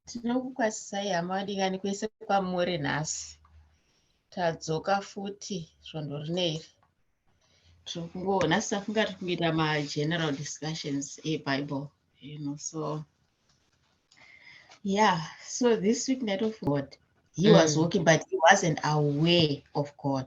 tinokukwasisai hama vadikani kwese kwamuri nhasi tadzoka futi svondo rine iri tiri kungoona safunga tiri kungoita mageneral discussions ebible you know so yeah so this week night of god he mm. was walking but he wasn't aware of god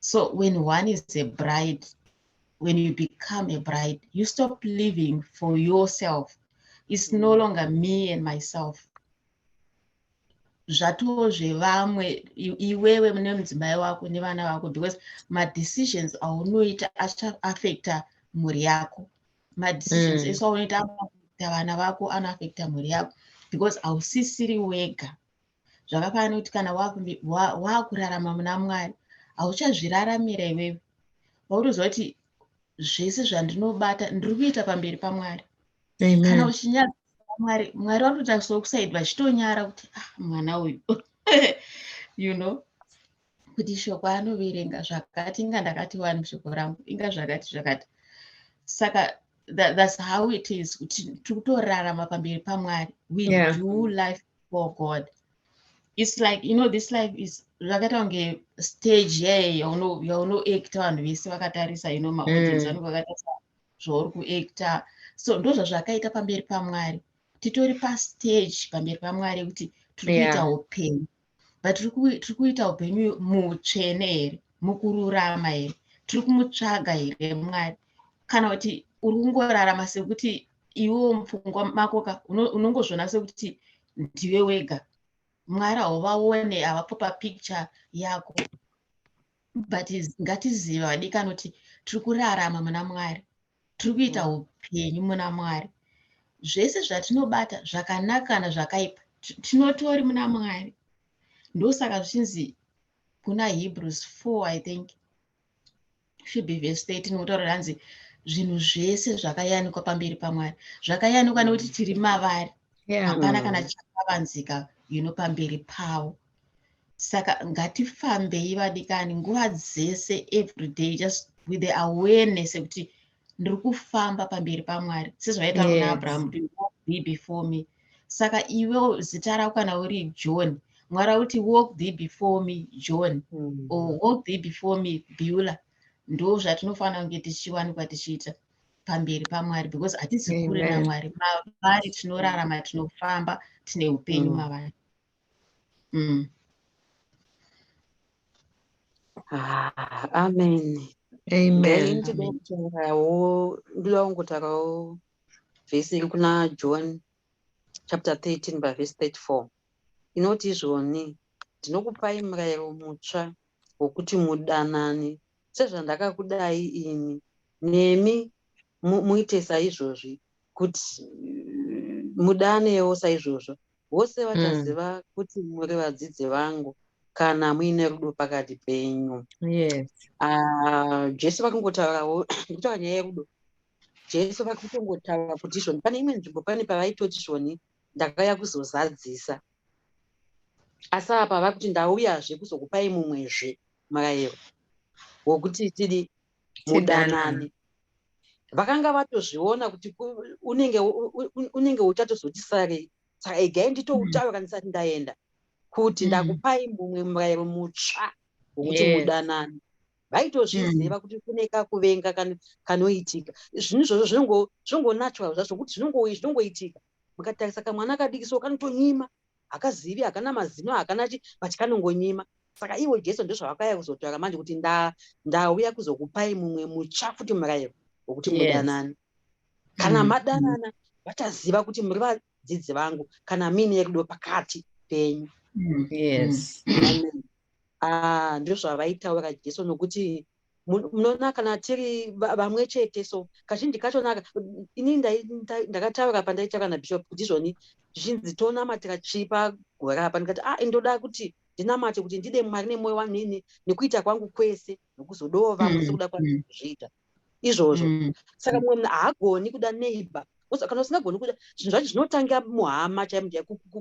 so when one is a bride when you become a bride you stop living for yourself it's no longer me and myself zvatowo zvevamwe iwewe mune mudzimai wako nevana vako because madecisions aunoita achaafecta mhuri yako madecisions mm. ese aunoita anoafecta vana vako anoafecta mhuri yako because hausisiri wega zvakafanana kuti kana waakurarama muna mwari hauchazviraramira iwewe pautoziva kuti zvese zvandinobata ndiri kuita pamberi pamwari kana uchinyara mwari mwari vanototariswa kusaidi vachitonyara kuti ah mwana uyu you know kuti shoko anoverenga zvakati inga ndakati wani shoko rangu inga zvakati zvakati saka that, that's how it is kuti tikutorarama pamberi pamwari we yeah. do life for god it's like you know this life is zvakaita kunge stage yeye yaunoacta vanhu vese vakatarisa you know maaudience mm. anenge vakatarisa zvauri kuacta so ndozvazvakaita pamberi pamwari titori pastage pamberi pamwari kuti tiri kuita upenyu yeah but tiri kuita upenyu mutsvene here mukururama here tiri kumutsvaga here mwari kana kuti uri kungorarama sekuti iwo mupfungwa makoka unongozviona sekuti ndiwe wega mwari hauvaone havapo papicture yako but ngatiziva vadikani kuti tiri kurarama muna mwari tiri kuita mm. upenyu muna mwari zvese zvatinobata zvakanaka kana zvakaipa tinotori muna mwari ndosaka zvichinzi kuna hebrews 4 i think should be verse 13 kutaura ranzi zvinhu zvese zvakayanikwa pamberi pamwari zvakayanikwa nekuti tiri mavari hapana kana chakavanzika you know pamberi pavo saka ngatifambei vadikani nguva dzese everyday just with the awareness yekuti ndiri kufamba pamberi pamwari sezvavaita yes. kuna abraham be before me saka iwe zita rako kana uri john mwari akuti walk thee before me john mm. or walk thee before me beula ndo zvatinofanira kunge tichiwanikwa tichiita pamberi pamwari because hatisi kure namwari mavari tinorarama tinofamba tine upenyu mm. mavari mm. ah, amen amen ndinoda kutaurawo ndoda kungotaurawo vhesi iri kuna john chapter 13 pavhesi 34 inoti izvoni ndinokupai murayiro mutsva wokuti mudanane sezvandakakudai ini nemi muite saizvozvi kuti mudanewo saizvozvo vose vachaziva mm. kuti muri vadzidzi vangu kana muine rudo pakati penyu yes. uh, jesu vakungotaurawo ndikutaura nyaya yerudo jesu vakutongotaura kuti izvoni pane imwe nzvimbo pane pavaitoti zvoni ndakauya kuzozadzisa asi apa vakuti ndauyazve kuzokupai mumwezve murayiro wokuti tidi mudanani vakanga vatozviona kuti unenge unenge uchatozoti sarei saka igai nditoutaura mm. kandisati ndaenda kuti mm. ndakupai mumwe murayiro mutsva wokuti mudanani vaitozviziva mm. kuti kune kakuvenga kanoitika zvinhu izvozvo zvinongonatural zvacho zvokuti zvinongoitika mukatarisa kamwana kadikisoo kanotonyima hakazivi hakana mazino hakana chi but kanongonyima saka ivo jesu ndozvavakauya kuzotaura manje kuti ndauya kuzokupai mumwe mutsva futi murayiro wekuti mudanane kana mm. madanana vachaziva kuti muri vadzidzi vangu kana mine yerudo pakati penyu mm. yes mm. ah, ndizvo zvavaitaura jesu nokuti munoona kana tiri vamwe chete so kazhinji kachonaka ini ndakataura pandaitaura nabishop kuti izvoni zvichinzi tonamatira chii pagore apa ndikati a ah, ndoda kuti ndinamate kuti ndide mwari nemwoyo wanini nekuita kwangu kwese nokuzodawo vamwe mm, sekuda kwangu mm. kuzviita izvozvo mm, saka mumwe munhu haagoni kuda neighbor kana usingagoni kuda zvinhu zvacho zvinotangira muhama chaimo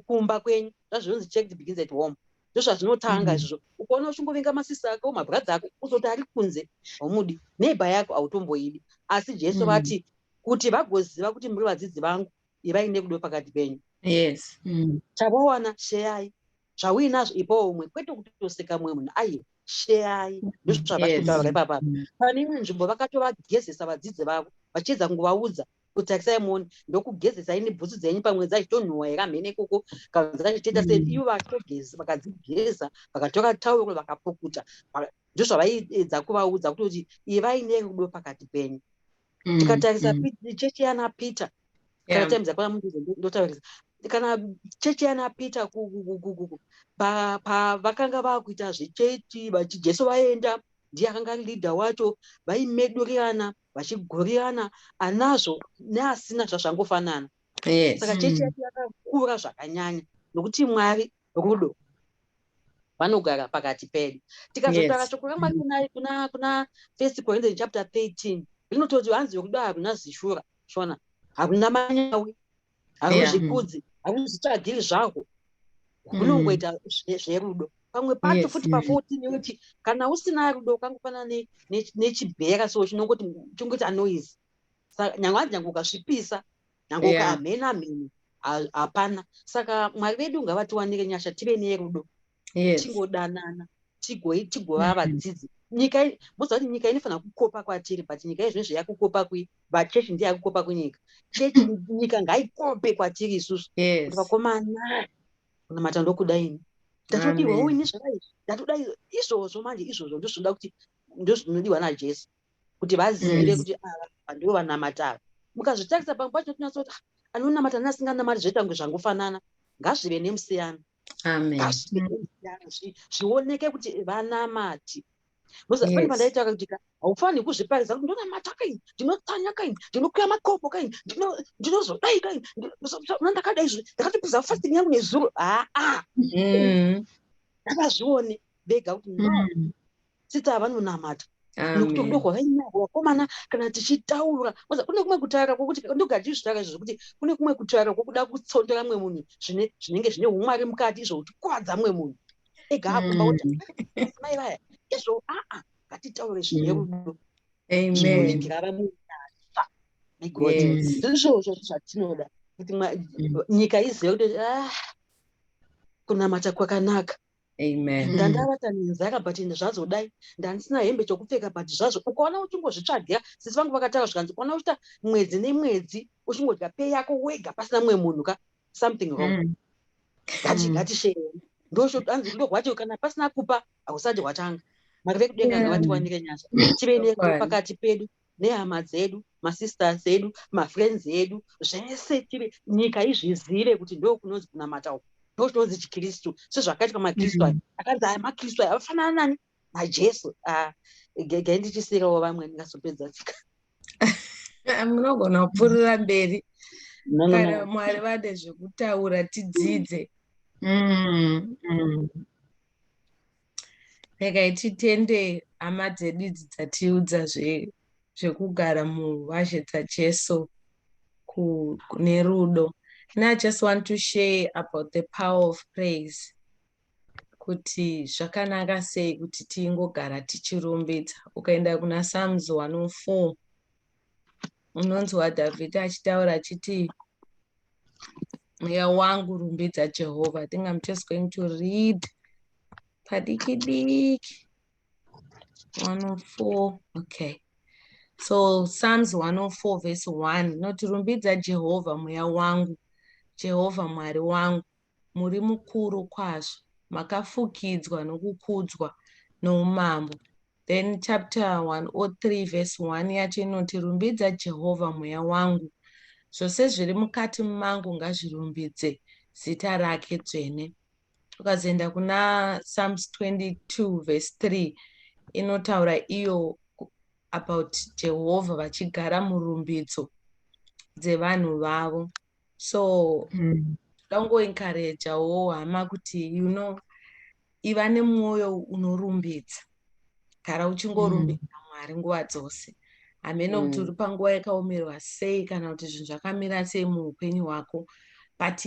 kumba kwenyu zvazvinonzi check the begins at home ndozvazvinotanga mm. izvozvo ukaona uchingovinga masista ako mabradha ako uzoti ari kunze haumudi neighbor yako hautomboidi asi jesu mm. vati mm. kuti vagoziva kuti muri vadzidzi vangu ivai nekudo pakati penyu yes mm. chavawana sheyai zvauinazvo ipawo umwe kwete kutoseka mumwe munhu aiye sheyai mm. ndozvavakutaura yes. ipapa mm. pane imwe nzvimbo vakatovagezesa vadzidzi vavo vachiedza kungovaudza kutakisai muone ndokugezesai nebhutsu dzenyu pamwe dzachitonhuwa here amhene ikoko kana dzachiteta sei mm. ivo vakatogeza vakadzigeza vakatoka tauro vakapukuta ndozvavaiedza kuvaudza kutoti ivai nerudo pakati penyu mm, tikatarisa mm. chechi yana peter kana time dzakwana mundizo ndotaurisa kana chechi yana peter pavakanga vakuita zvechechi vachijesu vaenda ndiye akanga leader wacho vaimedurirana ba, vachigurirana anazvo neasina zvazvangofanana yes. saka chechi hmm. yacho yakakura zvakanyanya nokuti mwari rudo vanogara pakati pedu tikazotara yes. shoko ramwari kuna, kuna, kuna first corinthian chapter 13 rinototi hanzi rudo haruna zishura shona haruna manyawi hauzvikudzi hauzvitsvagiri zvahwo hunongoita mm. zvine zverudo pamwe pacho futi pafourteen yekuti kana usina rudo ukangofanana nechibhera so chinongoti chingoita noise sa nyange anzi nyange ukasvipisa nyange ukamhena mheni hapana saka mwari vedu ngavatiwanire nyasha tive nerudo yes. tingodanana tigova mm-hmm. vadzidzi nyika moziva kuti nyika inofanira kukopa kwatiri but nyika izvino zve yakukopa kui vachechi ndiye yakukopa kunyika chechi nyika ngaikope kwatiri isusu yes. vakomana kunamata ndokuda ini ndatodirwawo ini zvakaizi ndatoda izvozvo manje izvozvo ndozvinoda kuti ndozvinodiwa najesu kuti vazivire kuti ava vandivo vanamata ava mukazvitarisa pamwe pacho tinotinatsa kuti ah, anonamata neasinganamati zvoita kunge zvangofanana ngazvive nemusiyano zvioneke kuti vanamati pane pandaita kuti haufaniri kuzviparidza kuti ndonamata kaini ndinotsanya kaini ndinokuya makopo kaini ndinozodai kaini ndakadai zvi ndakatopedza fasting yangu nezuro haa mm. ngavazvione vega kuti no mm. tsitsa yavanonamata nokuti rudo rwavainyarwo vakomana kana tichitaura kune kumwe kutaura kwokuti ndogara tichizvitaura izvo zvekuti kune kumwe kutaura kwokuda kutsondera mumwe munhu zvine zvinenge zvine umwari mukati izvo kutikwadza mumwe munhu ega akumba kuti mm. mai vaya izvo aa ngatitaure zvine mm. rudo zvinonengerara munyasva negod ndizvozvo zvatinoda kuti mm. nyika izive kuti ah, kunamata kwakanaka Amen. Mm. ndandavata nenzara but ende zvazodai ndandisina hembe chokupfeka but zvazvo ukaona uchingozvitsvagira sisi vangu vakataura zvikanzi ukaona uchiita mwedzi nemwedzi uchingodya pei yako wega pasina mumwe munhu ka something wrong mm. gati mm. gati shee ndoanzi rudo rwacho kana pasina kupa hausati hwatanga makave kudenga ngavatiwanire nyasha tive nepakati pedu nehama dzedu masisters edu mafriends edu zvese tive nyika izvizive kuti ndokunonzi kunamata uku ndokunonzi chikristu sezvakaitwa makristu aya mm-hmm. akanzi aya makristu aya afanana nani najesu ah, gegai ndichisiyirawo vamwe ndingazopedza tsika munogona kupfuurira mberi kana mwari vade zvekutaura tidzidze mm, mm. regai titende hama dzedu idzi dzatiudza zvekugara muvazhe dzajesu nerudo and i just want to share about the power of praise kuti zvakanaka sei kuti tingogara tichirumbidza ukaenda kuna psalms 104 unonzwa dhavhidhi achitaura achiti mweya wangu rumbidza jehovha i think i'm just going to read padiki diki 104 okay so psalms 104 verse 1 inoti rumbidza jehovha mweya wangu jehovha mwari wangu muri mukuru kwazvo makafukidzwa nokukudzwa noumambo then chapter 103 verse 1 yacho inoti rumbidza jehovha mweya wangu zvose zviri mukati mangu ngazvirumbidze zita rake dzvene ukazoenda kuna psalms 22 verse 3 inotaura iyo about jehovha vachigara murumbidzo dzevanhu vavo so mm. ndangoencouragewo hama kuti you know iva nemwoyo unorumbidza gara uchingorumbidza mm. mwari nguva dzose hameno kuti mm. uri panguva yakaomerwa sei kana kuti zvinhu zvakamira sei muupenyu hwako but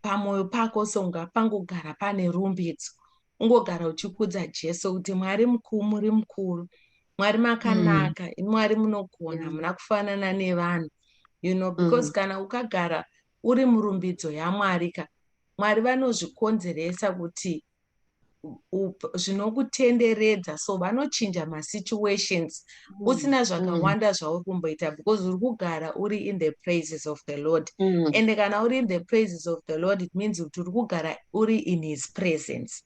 pamwoyo pako so ngapangogara pane rumbidzo ungogara uchikudza jesu kuti mwari mukuru muri mukuru mwari mm. makanaka mm. imwari munogona yeah. muna kufanana nevanhu you know because mm. kana ukagara uri murumbidzo yamwari ka mwari vanozvikonzeresa kuti zvinokutenderedza so vanochinja masituations mm. usina zvakawanda mm. zvauri kumboita because uri kugara uri in the praises of the lord mm. and kana uri in the praises of the lord it means kuti uri kugara uri in his presence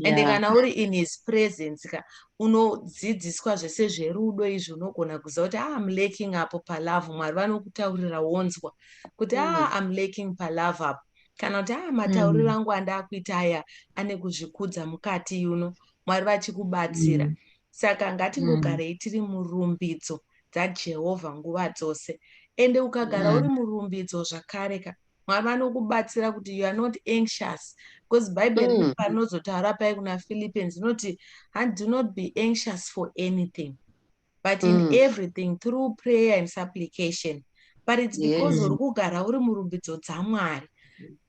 and yeah. kana uri in his presence ka unodzidziswa zvese zverudo izvi unogona kuziva kuti ah, am laking apo palove mwari vanokutaurira wonzwa kuti mm. ah, am laking palove apo kana kuti ah, matauriro mm. angu andakuita aya ane kuzvikudza mukati yuno mwari vachikubatsira mm. saka ngatingogarei mm. tiri murumbidzo dzajehovha nguva dzose ende ukagara mm. uri murumbidzo zvakare ka mwari vanokubatsira kuti you are not anxious because bible mm. rine panozotaura pai kuna philippians inoti and do not be anxious for anything but mm. in everything through prayer and supplication but it's because uri yes. kugara uri murumbidzo dzamwari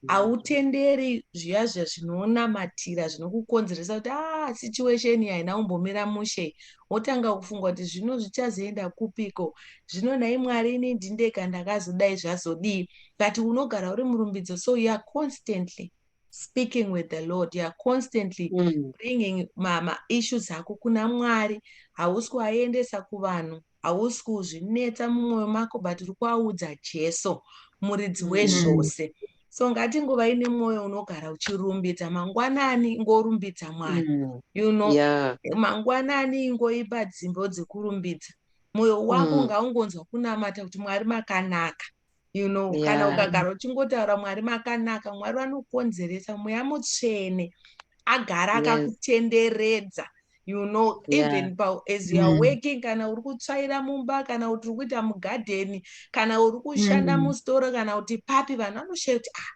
hautenderi zviya zviya zvinonamatira zvinokukonzeresa kuti a ah, situation iyi haina kumbomira mushe wotanga kufunga kuti zvino zvichazoenda kupiko zvino nhai mwari ini ndindeka ndakazodai zvazodii but unogara uri murumbidzo so you are constantly speaking with the lord you are constantly mm. bringing maissues ako kuna mwari hausi kuaendesa kuvanhu hausi kuzvinetsa mumwoyo mako but uri kuaudza jesu muridzi mm. wezvose mm. so ngati nguva ine mwoyo unogara uchirumbidza mangwanani ngorumbidza mwari mm. you know yeah. mangwanani ingoipa dzimbo dzekurumbidza mwoyo wako mm. ngaungonzwa kunamata kuti mwari makanaka you know yeah. kana ukagara uchingotaura mwari makanaka mwari vanokonzeresa mweya mutsvene agara akakutenderedza yes. you know yeah. even pa, as you are mm. working kana uri kutsvaira mumba kana kuti uri kuita mugadheni kana uri kushanda mm. mustoro kana kuti papi vanhu vanoshaya kuti ah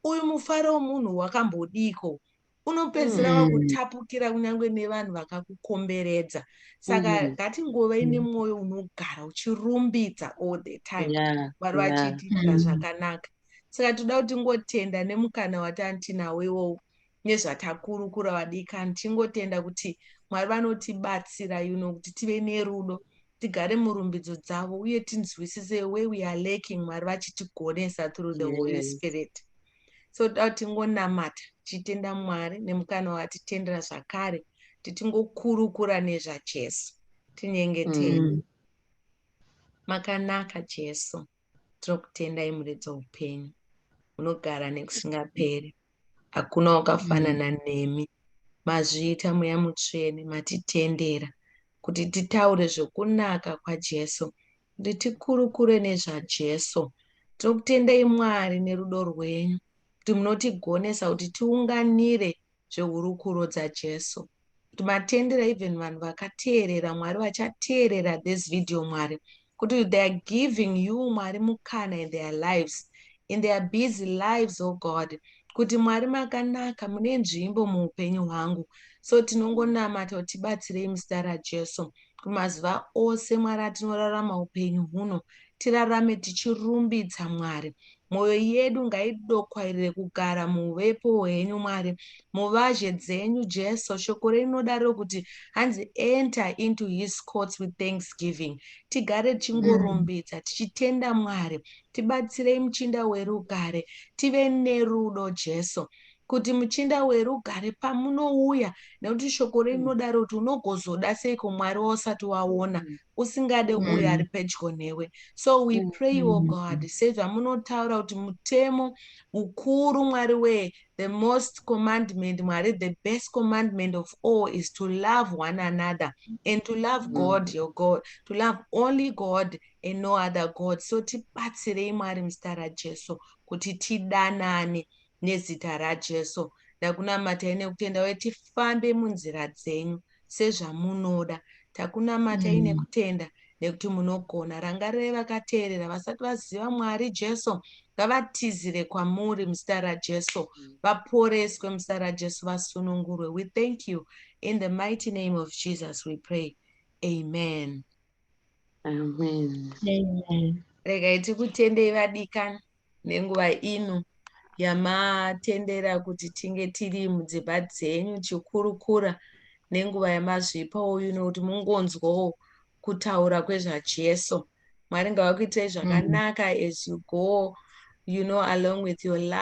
uyu mufaro munhu wakambodiko unopedzisira mm. wakutapukira mm. kunyange nevanhu vakakukomberedza saka mm. ngatingove mm. ine mwoyo unogara uchirumbidza all the time vari yeah. vachitiitira yeah. Mm. zvakanaka saka toda kuti ngotenda nemukana watanti nawo iwowo nezvatakurukura vadikani tingotenda kuti mwari vanotibatsira you know kuti tive nerudo tigare murumbidzo dzavo uye tinzwisise we we are laking mwari vachitigonesa through the holy spirit so toda kuti tingonamata tichitenda mwari nemukana watitendera zvakare kuti tingokurukura nezvajesu tinyengetei mm. makanaka jesu Tinokutendai muridzi weupenyu, unogara nekusingaperi. Hakuna wakafanana mm. nemi. Mazviita mweya mutsvene, matitendera kuti titaure zvokunaka kwaJesu, kuti tikurukure nezvaJesu. Tinokutendai Mwari nerudo rwenyu, kuti munotigonesa kuti tiunganire zvehurukuro dzaJesu. Kuti matendera even vanhu vakateerera Mwari vachateerera this video Mwari. Kuti they are giving you Mwari mukana in their lives, in their busy lives, oh God. Kuti Mwari makanaka mune nzvimbo muupenyu hwangu. So tinongonamata kuti tibatsirei muzita raJesu. Jesu. Mazuva ose Mwari atinorarama upenyu huno, tirarame tichirumbidza Mwari. Mwoyo yedu ngaidokwairire kugara muuvepo hwenyu Mwari. Muvazhe dzenyu Jesu, shoko renyu rinodaro kuti hanzi enter into his courts with thanksgiving. Tigare tichingorumbidza, mm. tichitenda Mwari. Tibatsirei muchinda werugare, tive nerudo Jesu. kuti muchinda werugare pamunouya nekuti shoko renyu rinodaro mm. kuti unogozoda seiko mwari wausati waona mm. usingade mm. uyo ari pedyo newe so we pray o oh god sezvamunotaura kuti mutemo mukuru mwari wee the most commandment mwari the best commandment of all is to love one another and to love god your god to love only god and no other god so tibatsirei mwari muzita rajesu kuti tidanane Nezita raJesu ndakunamatai nekutenda uye tifambe munzira dzenyu sezvamunoda. Takunamatai mm. nekutenda nekuti munogona. Rangarirai vakateerera vasati vaziva Mwari Jesu ngavatizire kwamuri muzita raJesu mm. vaporeswe muzita raJesu vasunungurwe. We thank you in the mighty name of Jesus we pray. Amen. Amen. Amen. Regai tikutendei vadikani. nenguva ino yamatendera kuti tinge tiri mudzimba dzenyu chikurukura nenguva yamazvipa uyu nekuti mungonzwawo kutaura kwezvajesu mwari ngavakuitirei zvakanaka as you go you know along with your life